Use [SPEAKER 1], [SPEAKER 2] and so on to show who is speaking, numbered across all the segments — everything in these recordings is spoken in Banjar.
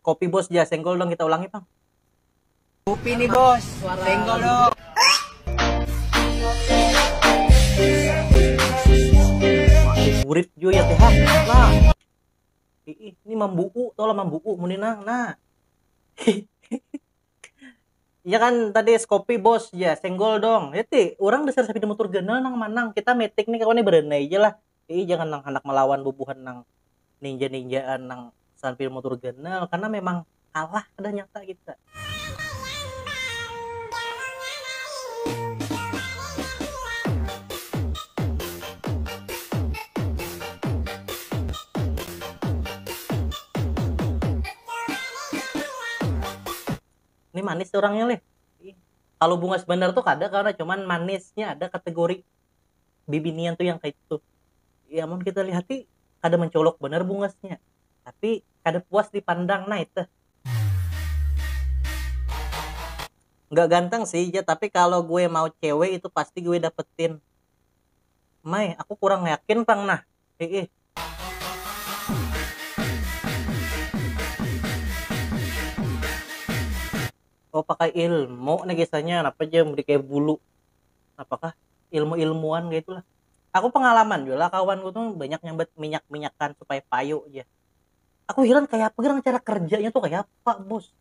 [SPEAKER 1] Kopi bos ja, senggol dong kita ulangi pang. Kopi
[SPEAKER 2] nih bos, senggol dong.
[SPEAKER 1] Burit jo ya teh nah. Ih, ini mambuku, tolong mambuku muninang nah. Iya kan tadi es kopi bos ya senggol dong. Itu ya, orang dasar sapi motor ganal nang manang kita metik nih kawan berenai aja lah. Iih jangan nang handak melawan bubuhan nang ninja ninjaan nang sambil mutur ganal karena memang kalah dah nyata kita. Ni manis urangnya lih. Kalu bungas banar tu kada karna cuman manisnya ada kategori. bibinian tuh yang kayak gitu ya mun kita lihati kada mencolok banar bungasnya tapi kada puas dipandang nah itu nggak ganteng sih ya tapi kalau gue mau cewek itu pasti gue dapetin Mai aku kurang yakin pang nah Iih. Oh pakai ilmu nih kisahnya napa ja mudi kayak bulu apakah ilmu ilmuan kayak itulah aku pengalaman juga lah kawan gue tuh banyak nyambat minyak minyakan supaya payu aja aku heran kayak apa gerang cara kerjanya tuh kayak apa bos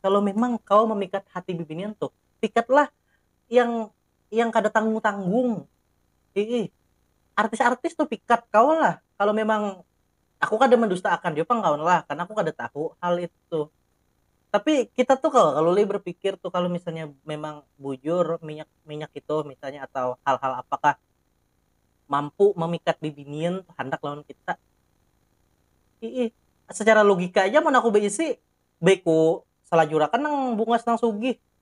[SPEAKER 1] kalau memang kau memikat hati bibinian tuh pikatlah yang yang kada tanggung tanggung iih artis artis tu pikat kawa lah kalau memang aku kada mendusta akan jua pang kawan lah karena aku kada tahu hal itu tapi kita tuh kawa kalu lih berpikir tuh kalau misalnya memang bujur minyak minyak itu misalnya atau hal hal apakah mampu memikat bibinian handak lawan kita iih secara logika aja mun aku baisi baik ku salajur akan nang bungas nang sugih.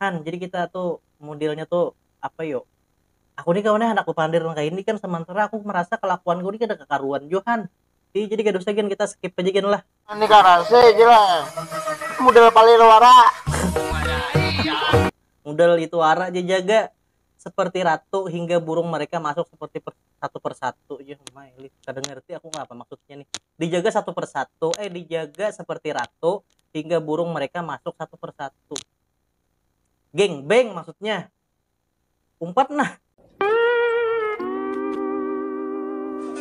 [SPEAKER 1] Han, jadi kita tuh modelnya tuh apa yuk? Aku nih kawannya anak bepandir kayak ini kan sementara aku merasa kelakuan gue ini kada kekaruan jo Han. Jadi jadi kada usah gin kita skip aja gin lah. Ini karase aja
[SPEAKER 2] lah. Model palir wara.
[SPEAKER 1] Model itu wara aja jaga. seperti ratu hingga burung mereka masuk seperti per, satu persatu ya maili kada ngerti aku apa maksudnya nih dijaga satu persatu eh dijaga seperti ratu hingga burung mereka masuk satu persatu geng beng maksudnya umpat nah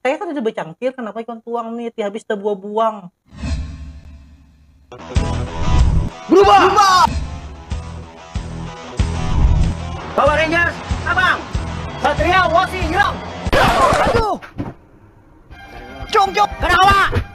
[SPEAKER 1] Kaya kada ada bacangkir, kanapa ikam tuang ni, ti habis tabuabuang.
[SPEAKER 2] Berubah! Power Rangers,
[SPEAKER 3] Sabang! Satria Wasi Hirang! Aduh!
[SPEAKER 2] Cung cung! Kada kawa!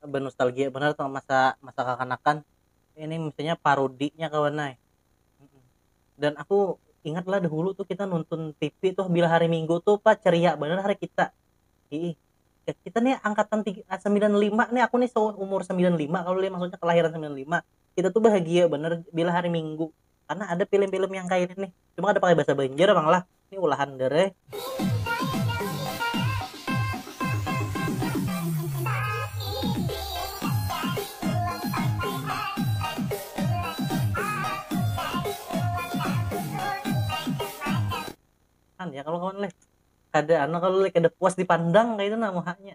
[SPEAKER 1] benostalgia banar tu masa masa kakanakan ini misalnya parudinya kawan ai dan aku ingat lah dahulu tuh kita nonton tipi tuh bila hari minggu tuh pa ceria banar hari kita hiih kita nih angkatan tiga sembilan lima nih aku nih seumur sembilan lima kalau lima maksudnya kelahiran sembilan lima kita tuh bahagia banar bila hari minggu karena ada film-film yang kayak ini nih cuma ada pakai bahasa Banjar emang lah ini ulahan dere kan ya kalau kawan leh kada anu kalau leh kada puas dipandang kayak itu nah muhanya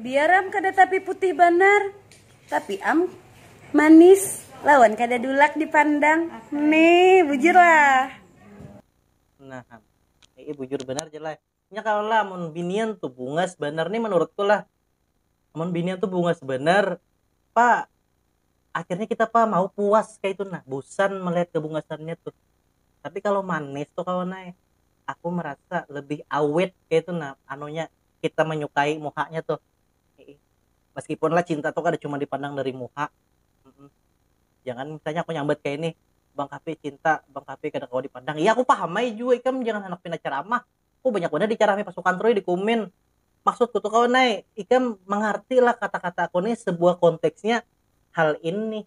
[SPEAKER 1] Biar am kada
[SPEAKER 4] tapi putih banar, tapi am manis lawan kada dulak dipandang. Ne, bujur lah.
[SPEAKER 1] Nah am, ee bujur banar ja lah. Nya kalo lah amun binian tu bungas banar ni manurutku lah. Amun binian tu bungas banar, pa akhirnya kita pa mau puas kaitu nah, busan melihat kebungasannya tu. Tapi kalo manis tu kawan ai, aku merasa lebih awet kaitu nah anunya, kita manyukai muhanya tuh meskipun lah cinta tuh kada cuma dipandang dari muha jangan misalnya aku nyambat kayak ini bang kapi cinta bang kapi kada kawa dipandang ya aku paham ai jua ikam jangan handak pina ceramah aku banyak banar dicerami pasukan trui di kumin maksudku tuh kawan ai ikam mangarti lah kata kataku nih sebuah konteksnya hal ini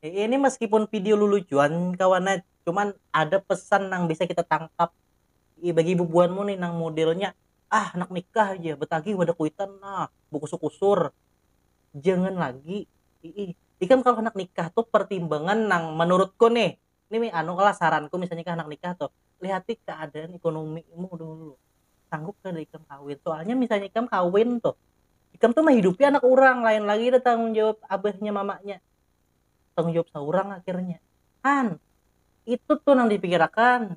[SPEAKER 1] Eh, ini meskipun video lulucuan kawan nah, cuman ada pesan nang bisa kita tangkap I, bagi ibu buanmu nih nang modelnya ah nak nikah aja betagih wadah kuitan nah bukusur kusur jangan lagi i, ikam kalau nak nikah tuh pertimbangan nang menurutku nih ini anu lah saranku misalnya kah anak nikah tuh lihati keadaan ekonomimu dulu sanggup ke ikam kawin soalnya misalnya ikam kawin tuh ikam tuh menghidupi anak orang lain lagi ada tanggung jawab abahnya mamanya tanggung jawab seorang akhirnya kan itu tuh yang dipikirkan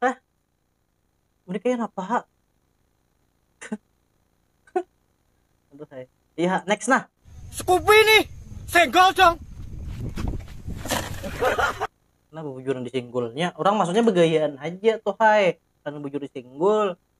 [SPEAKER 1] Hah? Mending kaya napa ha? Aduh hai. Iya, next nah. Scoopy nih,
[SPEAKER 3] senggol dong.
[SPEAKER 1] Nah, bujuran disinggulnya. Orang maksudnya begayaan aja tuh hai. Karena bujur disinggul.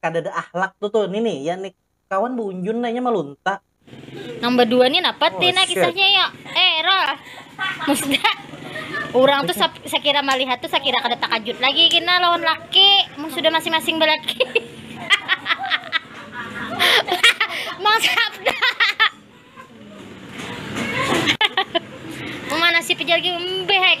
[SPEAKER 1] kadada ahlak tu tuh ni nih ya nih kawan buunjun nih nya malunta. Nang badua
[SPEAKER 5] nih napa ti nah kisahnya yo
[SPEAKER 1] eh
[SPEAKER 5] rol musda urang tuh sakira malihat tuh sakira kada takajut lagi kina lawan laki mun sudah masing masing balaki mang sabda memanasi pijalgi mbeh.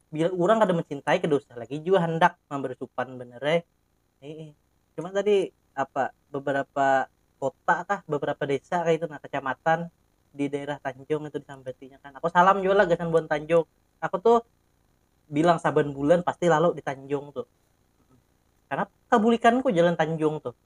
[SPEAKER 1] bila orang kada mencintai kada usah lagi jua handak memberi supan banar ai heeh cuma tadi apa beberapa kota kah beberapa desa kah itu nah kecamatan di daerah Tanjung itu disambatinya kan aku salam jua lah gasan buhan Tanjung aku tuh bilang saban bulan pasti lalu di Tanjung tuh karena kabulikanku jalan Tanjung tuh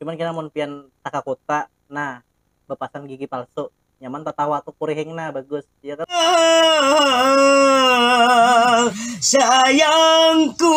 [SPEAKER 1] cuman kena mun pian takakuta nah bapasang gigi palsu nyaman tatawa tu kurihing nah bagus ya kan
[SPEAKER 3] sayangku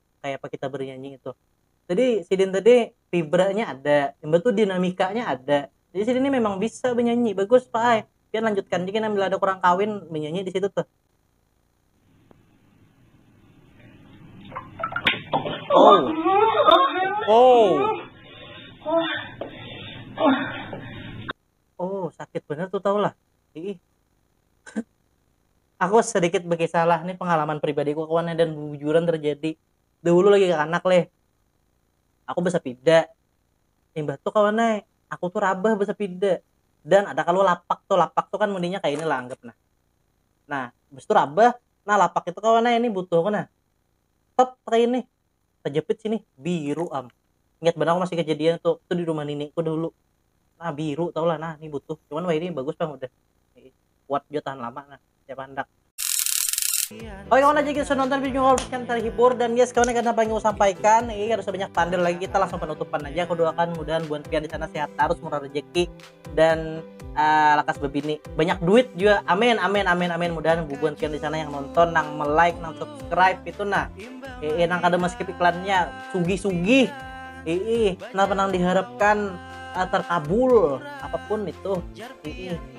[SPEAKER 1] kayak apa kita bernyanyi itu jadi sidin tadi fibranya ada yang betul dinamikanya ada jadi sidin ini memang bisa bernyanyi bagus pak ay pian lanjutkan jika bila ada kurang kawin menyanyi di situ tuh oh oh oh sakit bener tuh tau lah ih Aku sedikit bekisah lah, ni pengalaman pribadi ku kawan dan bubujuran terjadi. Dahulu lagi kakanak leh, aku besepida, imbah tu kawan ai aku tu rabah besepida dan ada kalu lapak tu, lapak tu kan mundinya kaya ini lah anggap nah, nah habis tu rabah nah lapak itu kawan ai ini butuh aku nah tep kaya ini tejepit sini biru am, ingat banar aku masih kejadian itu, itu di rumah nini ku dahulu nah biru tahu lah nah ni butuh cuman wahini bagus pang udah. kuat jua tahan lama nah siapa hendak Oke kawan aja kita sudah nonton video kalau kalian terhibur dan guys kawan karena apa yang mau sampaikan ini harus banyak tanda lagi kita langsung penutupan aja aku doakan mudahan buat pian di sana sehat terus murah rezeki dan uh, lakas bebini banyak duit juga amin amin amin amin mudahan bubuan pian di sana yang nonton nang like nang subscribe itu nah eh, nang kada meskip iklannya sugi sugi eh, nah penang diharapkan uh, terkabul apapun itu eh,